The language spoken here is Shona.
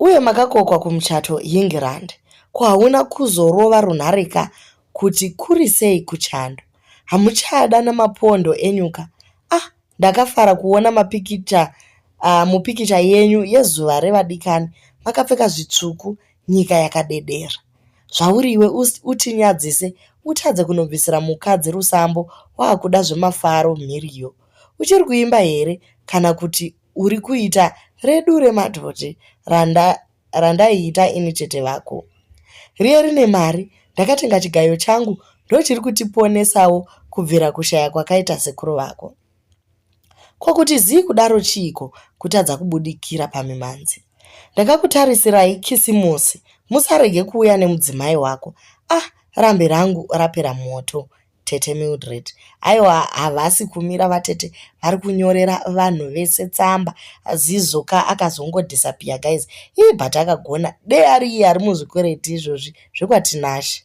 Uye makakokwa kumuchato Yingirand ko hauna kuzorova runhare ka kuti kurisei kuchando hamuchada namapondo enyu ka ah ndakafara kuona mapikicha uh, mupikicha yenyu yezuva revadikani makapfeka zvitsvuku nyika yakadedera zvauriwe utinyadzise utadze kunobvisira mukadzi rusambo waakuda zvemafaro mhiriyo uchiri kuimba here kana kuti uri kuita redu remadhodhi randa randaiita ini tete vako riye rine mari ndakatenga chigayo changu ndochiri kutiponesawo kubvira kushaya kwakaita sekuru vako ko kuti zii kudaro chiiko kutadza kubudikira pamimanzi ndakakutarisirayi kisimusi musarege kuuya nemudzimai wako ah rambi rangu rapera moto Tete Mildred. Aiwa havasi kumira vatete vari kunyorera vanhu vese tsamba. Zizo ka akazongo disappear guys. Ii but akagona dei ari iye ari muzvikwereti izvozvi zvekwaTinashe.